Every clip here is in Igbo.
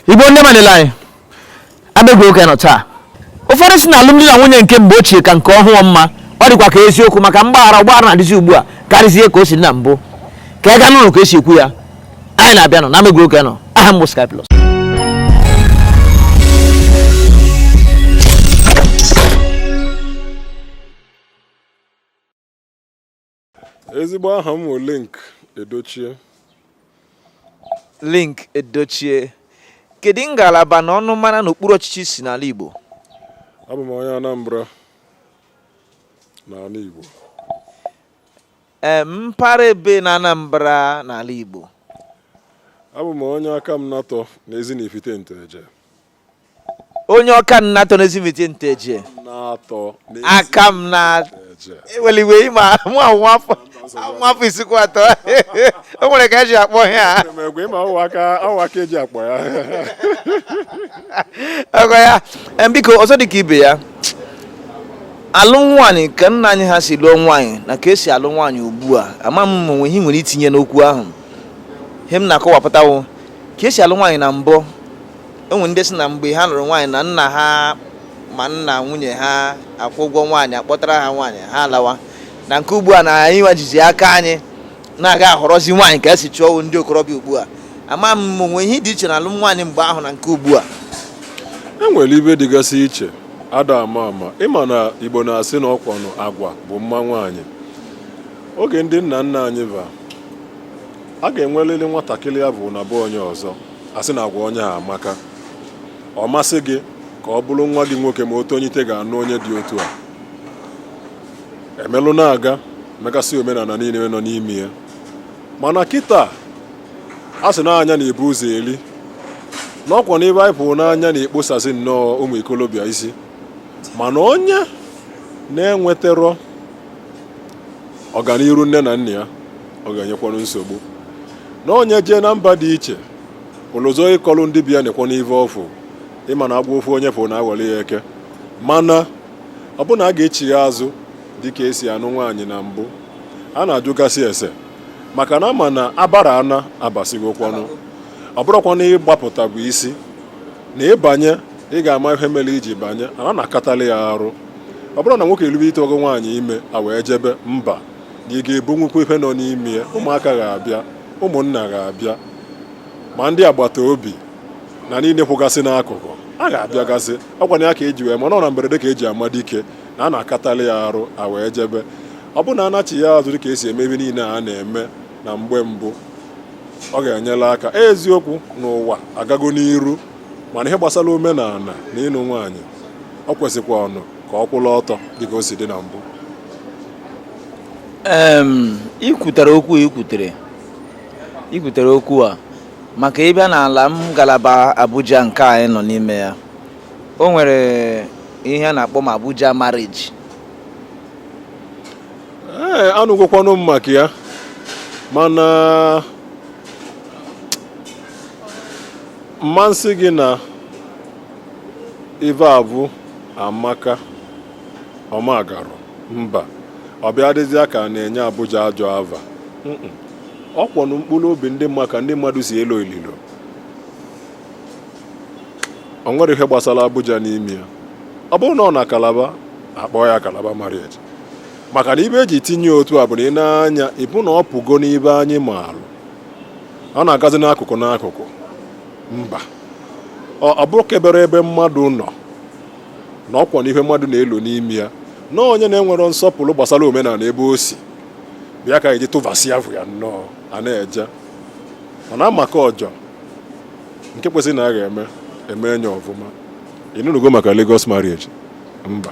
igbo ndị ọma niile anyị abegwu oge nọ taa ụfọdụ si na alụmdi na nwunye nke mgbe ochie ka nke ọhụụ mma ọ dịkwa ka eziokwu maka mgbaghara ọgbaghara na-adịzi ugbu a karịzie ka o si dị na mbụ ka ị ga nụrụ ka esi ekwu ya anyị na-abịa nọ na ama egwu oge a nọ aha m bụ Sky Plus ezigbo aha m bụ Linc Edochie Linc Edochie kedu ngalaba na ọnụmara na okpuru ọchịchị i si n'ala igbo abụ m onye anambra n'ala igbo mpaghara ebee na Anambra n'ala Igbo abụ m onye akamanatọ n'ezi na ifite nteje onye akamanatọ n'ezi na ifite nteje natọ aka m na eweliwe ịma mụ anwụ afọ nwa afọ isikwuatọ o nwere ka eji akpọ ya ọgọ ya biko ọzọ dị ka ibe ya alụm nwaanyị ka nna anyị ha si lụọ nwaanyị na ka esi alụ nwaanyị ugbu a ama m ma o nwee ihe i nwere itinye n'okwu ahụ ihe m na-akọwapụta wụ ka esi alụ nwaanyị na mbụ e nwere ndị si na mgbe ha lụrụ nwaanyị na nna ha ma nna nwunye ha akwụọ ụgwọ nwaanyị akpọtara ha nwaanyị ha alawa na nke ugbu a na anyị nwa jizi aka anyị na-aga ahọrọzi nwaanyị ka esi chọọ ndị okorobịa ugbu a ama m o nwee ihe dị iche na alụm nwaanyị mgbe ahụ na nke ugbu a e nwere ive dịgasị iche ada ama ama ị ma na igbo na-asị na ọkwanụ agwa bụ mma nwaanyị oge ndị nna nna anyị va a ga-enwerịrị nwatakịrị ya bụ na ọ bụ onye ọzọ a sị na agwa onye a amaka ọ masị gị ka ọ bụrụ nwa gị nwoke ma otu onye ite ga-anụ onye dị otu a e melụ na-aga mekasị omenala niile nọ n'ime ya mana kịtaa a sị na anya na-ebu ụzọ eli na ọkwa n'ive anyị fụrụ n'anya na-ekposasị nnọọ ụmụ ikolobịa isi mana onye na-enweterọ ọganiru nne na nna ya ọ ga-enyekwanụ nsogbu na onye jee na mba dị iche olu ọzọ ị kọọlụ ndị be ya nekwanụ ive ọ fụ ị ma na agwọ ofu onye fụrụ na-aghọrọ ya eke mana ọ bụụ na a ga-echigha azụ dịka esi anụ nwaanyị na mbụ a na-ajụgasị ese maka na ama na abara ana abasịgokwanụ ọ bụrụkwa na ịgbapụta bụ isi na ịbanye ị ga-ama ihe mere iji banye a na-akatali ya arụ ọ bụrụ na nwoke erube ite ogo nwaanyị ime a wee jebe mba na ị ga-ebu nnukwu ihe nọ n'ime ya ụmụaka ga-abịa ụmụnna ga-abịa ma ndị agbata obi na niile kwụgasị n'akụkụ a ga-abịagasị ọkwa na ya ka eji wee ma na ọ na mberede ka eji ama dike na a na-akatali ya arụ a wee jebe ọ bụrụ na anachia azụ dịka esi eme ebe niile a na-eme na mgbe mbụ ọ ga-enyere aka eziokwu na ụwa agago n'iru mana ihe gbasara omenala na ịnụ nwaanyị o kwesịkwanụ ka ọ kwụrụ ọtọ dịka o si dị na mbụ ikwutere okwu ikwutere ikwutere okwu a maka ịbịa n'ala m ngalaba Abuja nke anyị nọ n'ime ya o nwere ihe a na-akpọ ma Abuja marriage ee eh, anụgokwanụ m maka ya mana m ma sị gị na ive a bụ amaka ọmagarụ mba ọ bịa dịzịa ka a na-enye Abuja ajọ ava ọ kwọnụ mkpụrụ obi ndị mma ka ndị mmadụ si elo ililo o nwere ihe gbasara Abuja n'ime ya ọ bụrụ na ọ na Kalaba akpọọ ya Kalaba marriage maka na ive eji tinye otu a bụ na ịnụ nwaanyị bụ na ọ pụgo n'ive anyị maalụ ọ na-agazi n'akụkụ n'akụkụ mba ọ bụrọ kebere ebe mmadụ nọ na ọkwa na ihe mmadụ na-elo n'ime ya na onye na-enwero nsọpụrụ gbasara omenala ebe o si bịa ka eji tụvasị ya bụ ya nnọọ a na-eje ọ na-amaka ọjọọ nke kwesịrị na a ga-eme eme enye ọfụma ị nụnugo maka Lagos marriage mba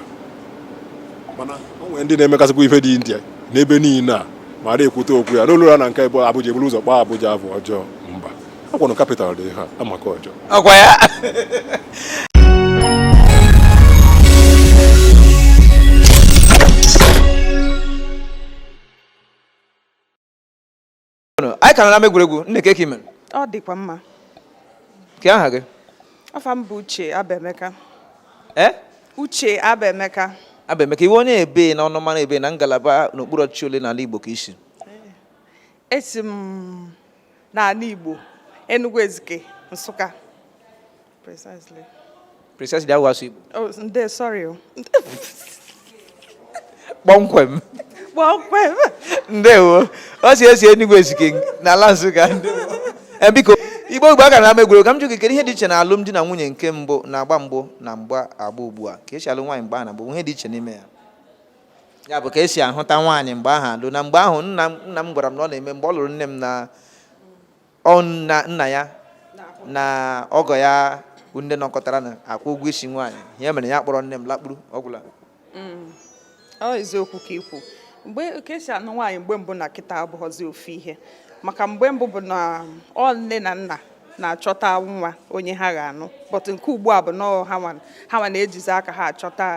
mana o nwere ndị na-emekasịkwa ife ụdị ndị a n'ebe niile a ma a na-ekwute okwu ya n'olu ọra na nke ebe Abuja eburu ụzọ kpọọ Abuja ava ọjọọ mba ọkwanụ capital dị ha amaka ọjọọ ọkwa ya anyị ka nọ n'ama egwuregwu nne kee ka i mere ọ dịkwa mma ke aha gị afa m bụ uche abemeka ee uche abemeka abemeka ị wụ onye ebe n'ọnụmara ebe na ngalaba n'okpuru ọchịchị ole n'ala igbo ka i si esi m n'ala igbo enugu ezike nsụka Precisely. Precisely awụ asụ Igbo. Oh, ndo sorry o. Kpọmkwem. Kpọmkwem. Ndewo. O si esi Enugu Ezike n'ala Nsụka. Eh, biko Igbo Igbo aka n'ama egwuregwu ka m jụ gị kedu ihe dị iche na alụmdi na nwunye nke mbụ na agba mbụ na mgba agba ugbu a ka esi alụ nwaanyị mgbe ahụ na mgbe ihe dị iche n'ime ya. Ya bụ ka esi ahụta nwaanyị mgbe ahụ alụ na mgbe ahụ nna m gwara m na ọ na-eme mgbe ọ lụrụ nne m na ọ nna nna ya na ọgọ ya bụ ndị nọkọtara na-akwụ ụgwọ isi nwaanyị ihe mere ya kpọrọ nne m lakpuru ọ gwụla mm. ọ eziokwu ka i kwu mgbe ka esi anụ nwaanyị mgbe mbụ na kịta abụghọzi ofu ihe maka mgbe mbụ bụ na ọ nne na nna na-achọta nwa onye ha ga-anụ but nke ugbu a bụ na ha nwa na-ejizi aka ha achọta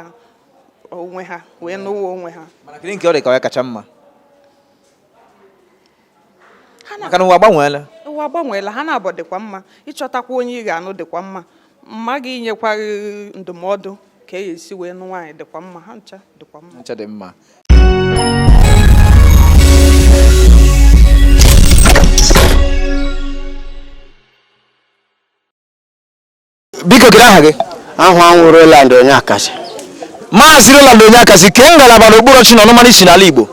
onwe ha wee nụwa onwe ha mana kedu nke ọ dị ka ọ ya kacha mma maka na ụwa agbanweela ụwa agbanweela ha naabọ dịkwa mma ịchọtakwa onye ị ga-anụ dịkwa mma mama gị inyekwa ndụmọdụ ka e esi wee nụ nwaanyị dịkwa mma ha ncha dịkwa mma ncha dị mma biko kedu aha gị aha m wụ Roland Onyeakasị maazị Roland Onyeakasị kee ngalaba na okpuru ọchịchị na ọnụmara i si n'ala Igbo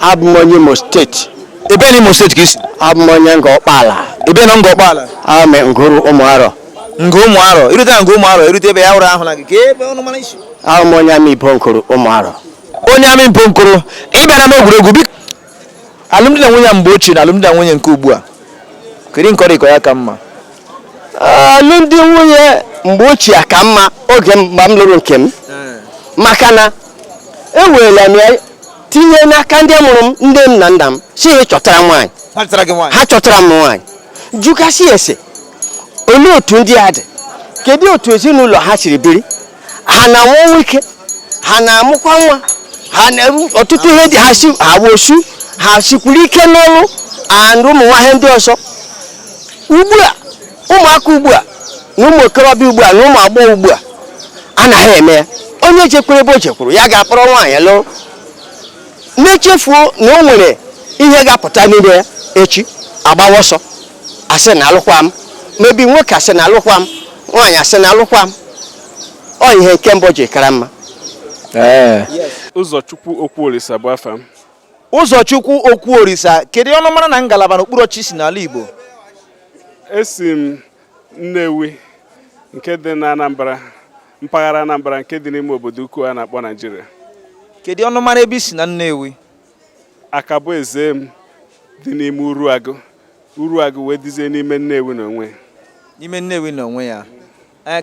abụ m onye Imo steeti ebe na Imo steeti ka i si abụ m onye Ngọ Ọkpala ebe na Ngọ Ọkpala ame Nguru Ụmụarọ Nguru Ụmụarọ i rute na Nguru Ụmụarọ i rute ebe ya hụrụ ahụ na gị kee ebe ọnụmara i si abụ m onye Amaibo Nguru Ụmụarọ onye Amaibo Nguru ị bịara n'ama egwuregwu biko alụmdi na nwunye mgbe ochie na alụmdi na nwunye nke ugbu a kedu nke ọ dị ka ọ ya ka mma alụmdi nwunye mgbe ochie ka mma oge mgbe m lụrụ nke m maka na eweela m ya tinye n'aka ndị mụrụ m nne m na nna m sị ha chọtara nwaanyị ha chọtara m nwaanyị jụgasị ese olee otu ndị a dị kedu otu ezinụlọ ha siri biri ha na-anwụ ọnwụ ike ha na-amụkwa nwa ha na-eru ọtụtụ ihe dị ha si ha wụ osu ha sikwuru ike n'ọrụ and ụmụ nwa ihe ndị ọzọ ugbu a ụmụaka ugbu a na ụmụ okorobịa ugbu a na ụmụ agbọghọ ugbu a anaghị eme ya onye jekwuru ebe o jekwuru ya ga-akpọrọ nwaanyị lụrụ na-echefuo na o nwere ihe ga-apụta n'ime ya echi agbawa ọsọ asị na alụkwa m maybe nwoke asị na alụkwa m nwaanyị asị na alụkwa m ọ ihe nke mbụ ji kara mma ụzọchukwu okwu orisa bụ afa m ụzọchukwu okwu orisa kedu ọnụmara na ngalaba na okpuru ọchị i si n'ala igbo esi m nnewi nke dị na anambra mpaghara anambra nke dị n'ime obodo ukwu a na-akpọ naijiria kedu ọnụmara ebe i si na nnewi akaboezem dị n'ime uruagụ uruagụ wee dizie n'ime nnewi n'onwe n'ime nnewi n'onwe ya eh,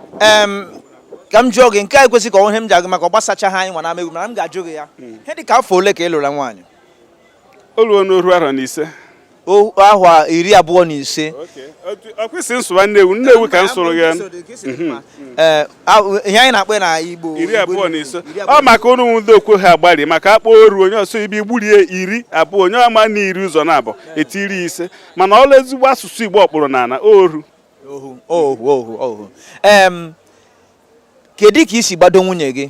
ka m jụọ gị nke a ekwesị ka ọnwụ ihe m ji agụ maka ọ gbasacha ha anyị nwa na-ama egwu mana m ga-ajụ gị ya hmm. ihe dị ka afọ ole ka ị lụrụ nwaanyị o ruona oru arọ na ise ahwa iri abụọ na ise ọ kwa ị sị m sụwa nnewi nnewi ka m sụrụ gị mhm. eh, ihe anyị na-akpọ na igbo iri abụọ na ise ọ maka ụnụ ndị okwu ha agbari maka a kpọ oru onye ọzọ ibi gburie iri abụọ onye ama na iri ụzọ na abụọ etiri ise mana ọla ezigbo asụsụ igbo ọkpụrụ na ala oru ohu ohu ohu ohu em kedu ka i si gbado nwunye gị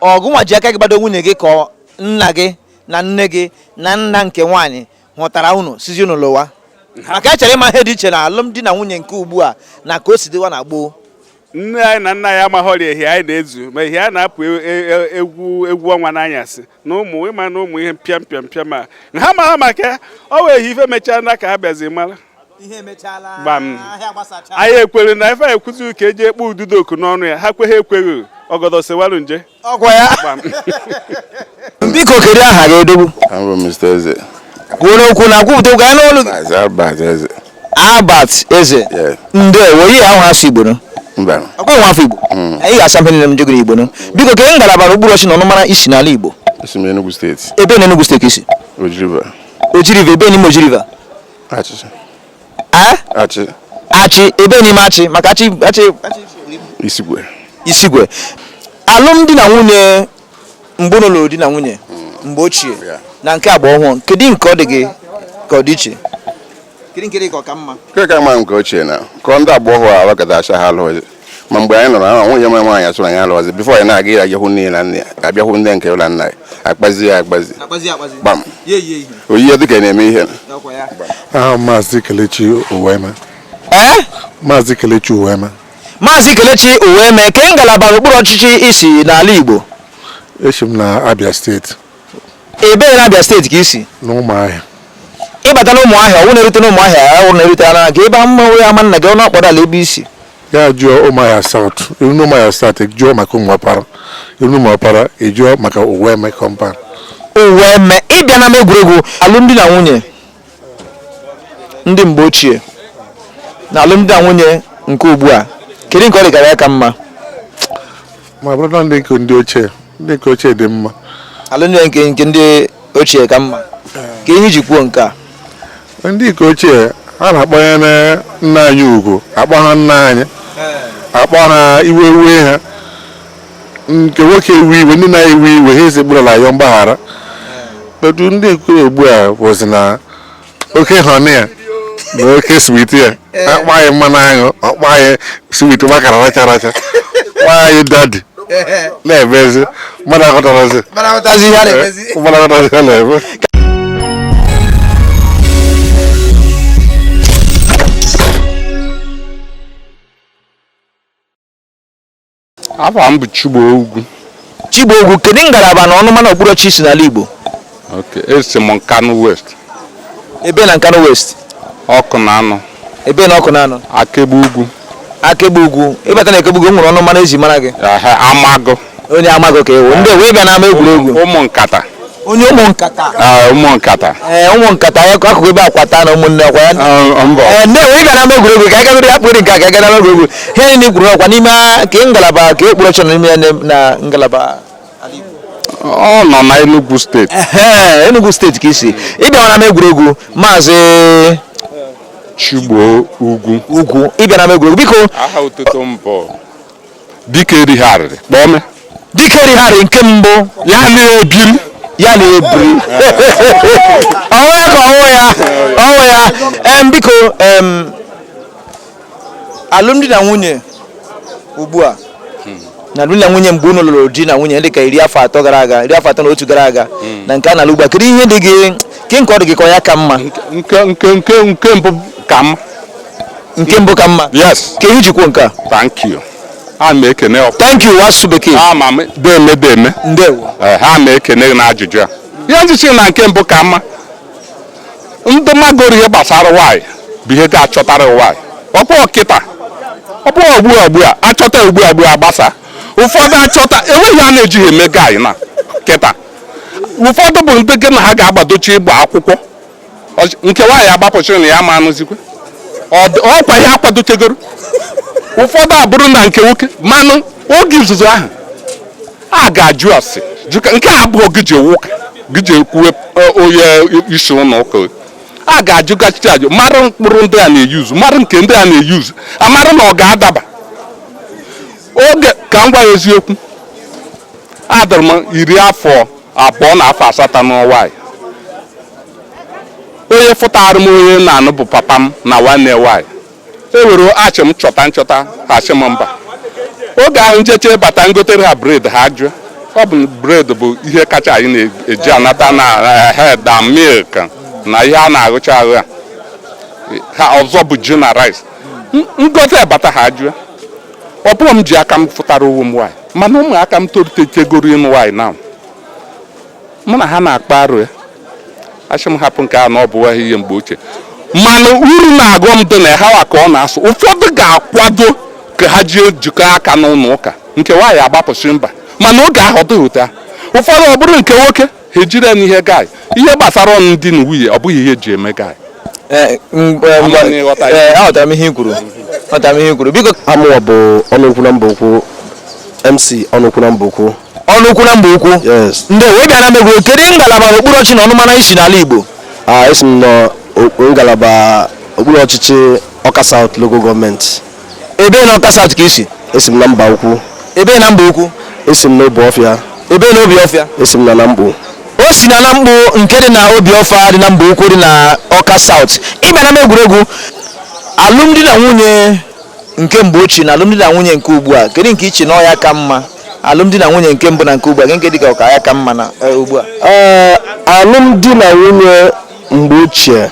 ọ gịnwa ji aka gị gbado nwunye gị ka ọ- nna gị na nne gị na nna nke nwaanyị hụtara unu sịzị unu lụwa maka a chọrọ ịma ihe dị iche na alụmdi na nwunye nke ugbu a na ka o si dịwa na gboo nne anyị na nna anyị amaghọrị ehi anyị na-ezu ma ehi a na-apụ e- e- e- egwu egwu ọnwa n'anyasị na ụmụ ịma na ụmụ ihe mpịa mpịa mpịa ma na ha mara maka ya ọ wee ihe ife mechaa na ka ha bịazi mara gbam anyị ekwere na ife anyị kwuzi ka eji ekpe ududoku n'ọnụ ya ha kweghị ekweghị ọgọdọ sewaru nje ọgwa ya biko kedu aha gị odogwu kwuo n'okwu na kwupụta okwu anyị n'olu gị Albert Eze Yeah. ndewo ihe ahụ asụ Igbo nụ mba ọkwa nwa afọ Igbo Mm. anyị ga-asụ ife niile m jegoro Igbo nụ biko kee ngalaba na okpuru ọchị na ọnụmara i si n'ala Igbo esi m Enugu steeti ebee na Enugu steeti i si Oji River Oji River ebee n'ime Oji River achị achị achị ebee n'ime achị maka achị achị isikwe isikwe alụmdi na nwunye mgbe unu lụrụ di na nwunye hmm. mgbe ochie na nke agba ọhụrụ kedu nke ọ dị gị ka ọ dị iche nke ka mma nke ochie na ka ọ ndị agba ọhụrụ ahụ kata acha ha alụghị ma mgbe anyị nọrọ ahụ nwunye m nwaanyị asụrụ anyị alụghịzi before anyị na-aga ya a bịa hụ nne na nna a bịa hụ ndị nke ụlọ nna ya akpazi ya akpazi gbam oyi ya dịka na-eme ihe aha maazị kelechi uweme maazị kelechi uweme Maazị Kelechi Uweme kee ngalaba n'okpuru ọchịchị i si n'ala Igbo esi m na Abia steeti ebee na Abia steeti ka i si n'ụmụahịa ị bata na ụmụahịa ọwụ na-erute na ụmụahịa ọwụ na-erute na gị ebe mmanwụ ya ama nna gị ọnụ ọkpọrọ ala ebe i si ya jụọ ụmụahịa South i ruo n'ụmụahịa South jụọ maka ụmụọpara i ruo n'ụmụọpara ị jụọ maka Uweme compound Uweme ị bịa na m egwuregwu alụmdi na nwunye ndị mgbe ochie na alụmdi na nwunye nke ugbu a kedu nke ọ dị ka ọ ya ka mma ma bụrụ na ndị nke ndị ochie ndị nke ochie dị mma alụmdi na nke nke ndị ochie ka mma kee ihe i ji kwuo nke a ndị nke ochie ha na-akwanyere nna anyị ugwu akpọ ha nna anyị akpọ ha iwe iwe ha nke nwoke ewe iwe ndị na-ewe iwe ha esekpuru ala yọọ mgbaghara but ndị nke ugbu a bụzi na oke honey ya na oke sweetie ya akpa anyị mmanụ aṅụ akpa anyị sweet gbakara racha racha kpa anyị daddy na-emezi mmadụ aghọtarazi Mana ahụtazi ihe a na-emezi. mmadụ aghọtarazi ihe a na-eme afa m bụ Chigbo Ugwu Chigbo Ugwu kedu ngalaba na ọnụmara okpuru ọchịchị i si n'ala Igbo okay esi m Nkanu West ebee na Nkanu West Awkunanaw ebee na Awkunanaw Akegbe Ugwu Akegbe Ugwu ị bata na Akegbe Ugwu e nwere ọnụmara e ji mara gị Amagụ onye Amagụ ka ị wụ ndewo ịbịa n'ama egwuregwu ụmụ nkata onye ụmụ nkata ah, ụmụ nkata ee eh, ụmụ nkata ya akụkụ ebe akwata na ụmụnne ọkwa ya ah, mbọ ee eh, ndewo ịbịa n'ama egwuregwu ka ịgagoro ya kpụrụ nke ka ịgara ama egwuregwu ihe niile i kwuru ọkwa n'ime ka ngalaba ka e kpụrụ ọchọ n'ime ya na ngalaba ọ nọ na Enugu steeti Enugu steeti ka i si ịbịa n'ama egwuregwu maazị Chigbo Ugwu Ugwu ịbịa n'ama egwuregwu biko aha otutu m bụ dike erighị arịrị kpọme dike erighị arịrị nke mbụ ya na-ebiri ya na-ebiri ọnwụ ya ka ọnwụ ya ọnwụ ya em biko em alụmdi na nwunye ugbu a na alụmdi na nwunye mgbe unu lụrụ di na nwunye dịka iri afọ atọ gara aga iri afọ atọ na otu gara aga hmm. na nke a na-alụ ugbu a kedu ihe dị gị nke nke ọ dị gị ka ọ ya ka mma nke nke nke nke mbụ ka mma nke mbụ ka mma yes kee ihe i ji kwuo nke a thank you ana m ekene ọfụ thank you asụsụ bekee a ma m deme deme ndewo Eh, ana m ekene gị n'ajụjụ a ihe m ji sị na nke mbụ ka mma ndị magoro ihe gbasara nwanyị bụ ihe ga-achọtara nwanyị ọ bụ kịta ọ bụ ugbu a ugbu a achọta ugbu a ugbu a gbasa ụfọdụ achọta enweghị ihe a na-ejighị eme guy na kịta ụfọdụ bụ ndị gị na ha ga-akwadocha ịgba akwụkwọ nke nwanyị agbapụ sị na ya ama anụzikwa ọkwa ha akwadochegoro ụfọdụ abụrụ na nke nwoke manụ oge izizi ahụ a ga-ajụ ase nke a abụọ gị ji ewu ụka gị ji ekwuwe e, onye isi ụlọ ụka a ga-ajụ gachicha ajụ mara mkpụrụ ndị a na-eyuzu mara nke ndị a na-eyuzu amara na ọ ga-adaba oge ka m gwa ya eziokwu adịrị m iri afọ abụọ na afọ asatọ nụọ nwaanyị onye fụtara m onye na-anụ bụ papa m na nwanne nwaanyị ewere a sị m chọta nchọta ha sị m mba oge ahụ njeche bata ngotere ha bred ha jụọ ọ bụ bred bụ ihe kacha anyị na-eji anata na eh, da milk na ihe a na-aghụcha ahụ ya ha ọzọ bụ ji na rice ngote bata ha jụọ ọ bụrụ m ji aka m fụtara onwe m nwaanyị mana ụmụaka m tolitegoro ịnụ nwaanyị na mụ na ha na-akpa arụ ya a sị m hapụ nke a na ọ bụwa ihe mgbe ochie mana uru na ọghọm dị na ha ka ọ na-asụ ụfọdụ ga-akwado ka ha jee jikọ aka n'ụlọ ụka nke nwaanyị agbapụsị mba mana oge ahụ ọ dịghị otu a ụfọdụ ọ bụrụ nke nwoke ha ejiri ya n'ihe guy ihe gbasara ọnụ di na nwunye ọ bụghị ihe eji eme guy Eh, m- eh, Ama m na ị ghọtara. eh, aghọtara m ihe i kwuru aghọtara m ihe i kwuru biko a mụwa bụ Ọnụukwu na Mbaukwu MC Ọnụukwu na Mbaukwu Ọnụukwu na Mbaukwu yes ndeewo ịbịa n'ama egwu kedu ngalaba okpuru ọchịchị na ọnụmara i si n'ala igbo a esi m na o- ngalaba okpuru ọchịchị ọka south local gọọmenti Ebee na Ọka South ka i si? Esi m na Mbaukwu. Ebee na Mbaukwu? Esi m na Obuọfịa. Ebee na Obuọfịa? Esi m na Namkpu. O si na Namkpu nke dị na Obuọfịa dị na Mbaukwu dị na Ọka South. Ịbịa n'ama egwuregwu alụmdi na nwunye nke mgbe ochie na alụmdi na nwunye nke ugbu a kedu nke i che na ọ ya ka mma alụmdi na nwunye nke mbụ na nke ugbu a nke dịka ọka ya ka mma na eh, ugbu a Ee, alụmdi na nwunye mgbe ochie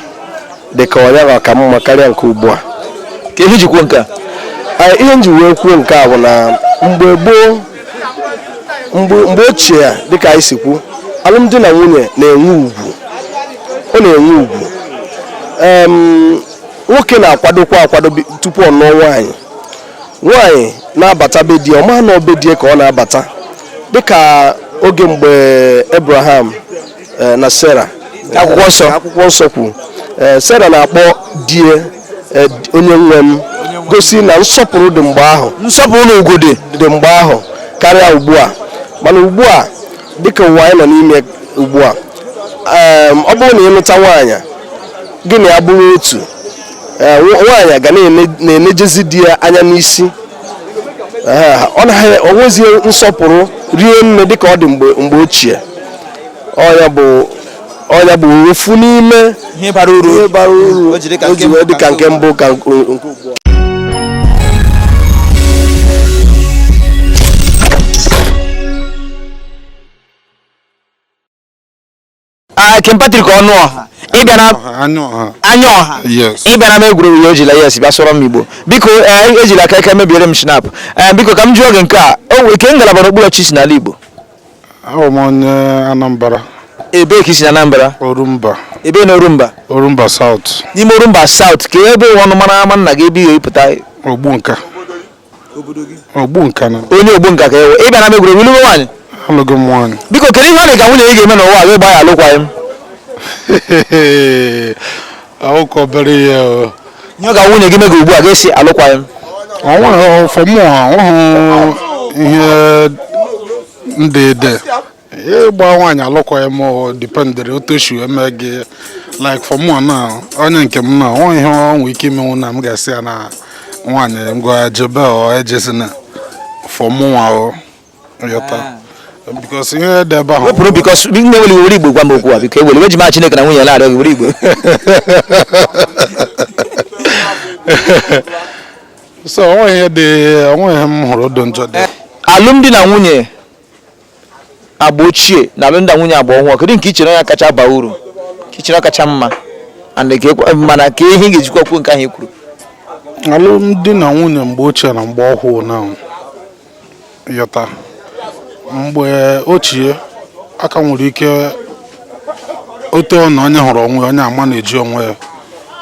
dị ka ọ nya ka ka mma karịa nke ugbu a kee ihe i ji kwu nke a ihe nji wee kwuo nke a bụ na mgbe gboo mgbe ochie ya dịka anyị si kwu alụmdi na nwunye na-enwe ugwu ọ na-enwe ugwu nwoke na-akwadokwa akwado tupu ọ nụọ nwaanyị nwaanyị na-abata be die ọ ma na ọ be die ka ọ na-abata dịka oge mgbe Abraham eh, na Sarah akwụkwọ nsọ akwụkwọ nsọ kwuru eh, Sarah na-akpọ die eh, onye nwe m gosi na nsọpụrụ dị mgbe ahụ nsọpụrụ na ugwu dị dị mgbe ahụ karịa ugbu a mana ugbu a dịka ụwa anyị nọ n'ime ugbu a em, ọ bụrụ na ịlụta nwaanyị gị na ya bụrụ otu eh, nwa- nwaanyị ga na-ene- na-enejezi di ya anya n'isi Eh, ọ naghị enwezi nsọpụrụ rie nne dịka ọ dị mgbe mgbe ochie ọ ya bụ ọ nya bụ ofu n'ime ihe bara uru o ji dịka nke mbụ ka nke ugbu a Ah, King Patrick Ọnụọha ịbịa n'anya ọha ịbịa n'ama egwuregwu ya ejila yes bịa sụọrọ m igbo biko eh, ejila aka aka mebiere m schnapp eh, biko ka m jụọ gị nke a kee ngalaba n'okpuru ọchịchị n'ala igbo awụ m onye Anambra ebee ka i si na Anambra Orumba ebee na Orumba Orumba South n'ime Orumba South ka ebe ọnụmara ama nna gị ebe i si pụta Ogbunka Ogbunka na onye Ogbunka ka ị wụ ị bịa n'ama egwuregwu ị lụgo nwaanyị alụgo m nwaanyị biko kedu ihe ọ dị ka nwunye gị ga-eme n'ụwa gị gbaa ya alụkwaghị m Ọ wụkwa obere ihe o. Nye ọ ga nwunye gị mega ugbu a ga-asị alụkwaghị m. Ọ nweghị for mụwa ọ wụ ihe ndị dị. Ịgba nwaanyị alụkwaghị m ọ dependịrị otu o si eme gị like for mụ na onye nke m na ọ nweghị ihe ọ nwee ike imenwu na m ga-asị ya na nwaanyị ngwa jebe ọ ejezina for mụnwa o. because ihe dị ebe ahụ wepụrụ biko nne ewela iwe were Igbo gwa m okwu a biko ewela iwe eji m aha Chineke na nwunye na-arịọ gị were Igbo so o nweghị ihe dị o nweghị ihe m hụrụ dị njọ dị alụmdi na nwunye agba ochie na alụmdi na nwunye agba ọhụrụ kedu nke i chere ya kacha baa uru ka i chere kacha mma and ka ekwe- mana ka ihe ị ga-ejikwa kwuo nke ahụ i kwuru alụmdi na nwunye mgbe ochie na mgbe ọhụụ na ị ghọta mgbe ochie a ka nwere ike otu ọ na onye hụrụ onwe ya, onye ama na-eji onwe ya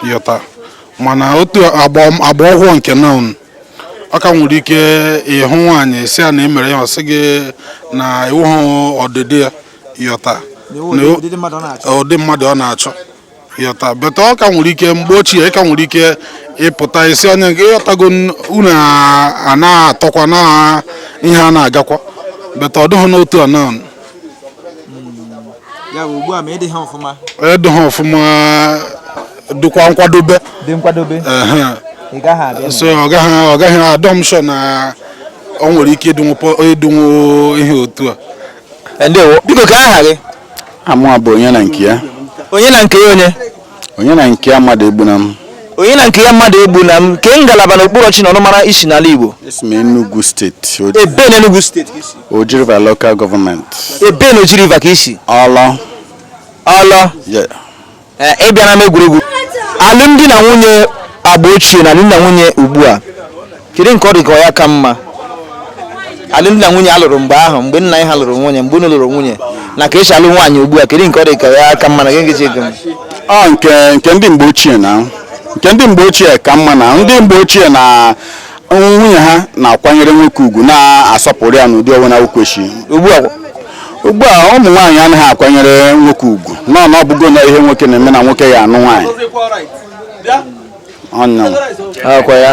ị ghọta mana otu agba agba ọhụụ nke na a ka nwere ike ịhụ nwaanyị sị ya na e mere ihe ọ sị gị na ị wụhụ ụdịdị ya ị ghọta na ụdị mmadụ ọ na-achọ ị ghọta but ọ ka nwere ike mgbe ochie ị ka nwere ike ịpụta ị sị onye nke ị ghọtago n- unu a- a na-atọkwa na ihe a na-agakwa but ọ dịghị n'otu a na ya bụ ugbu a ma ị dịghị ọfụma edo ha ọfụma dịkwa nkwadobe dị nkwadobe ehe. ị gaghị abịa so ọ gaghị ọ gaghị adị m sure na ọ nwere ike ịdịnwu pọ- ịdịnwu ihe otu a Eh, ndewo biko ka aha gị aha mụa bụ Onyenankeya Onyenankeya onye Onyenankeya Mmadụegbunam Onyenankeya Mmadụegbunam kee ngalaba na okpuru ọchịchị na ọnụmara i si n'ala Igbo esi m Enugu steeti O- ebee na Enugu steeti ka i si Oji River local government ebee na Oji River ka i si Awlaw Awlaw Yeah. Ee, ị bịa n'ama egwuregwu alụmdi na nwunye agba ochie na alụmdi na nwunye ugbu a kedu nke ọ dị ka ọ ya ka mma alụmdi na nwunye a lụrụ mgbe ahụ mgbe nna anyị ha lụrụ nwunye mgbe unu lụrụ nwunye na ka esi alụ nwaanyị ugbu a kedu nke ọ dị ka ya ka mma na gị nkechi ego m ọ nke nke ndị mgbe ochie na nke ndị mgbe ochie ka mma na ndị mgbe ochie na nwunye ha na-akwanyere nwoke ugwu na-asọpụrụ ya n'ụdị ọbụla o kwesịrị ugbu a ụmụ nwaanyị anaghị akwanyere nwoke ugwu nọ na ọ bụgo na ihe nwoke na-eme na nwoke ya anụ nwaanyị ọnya akwa ya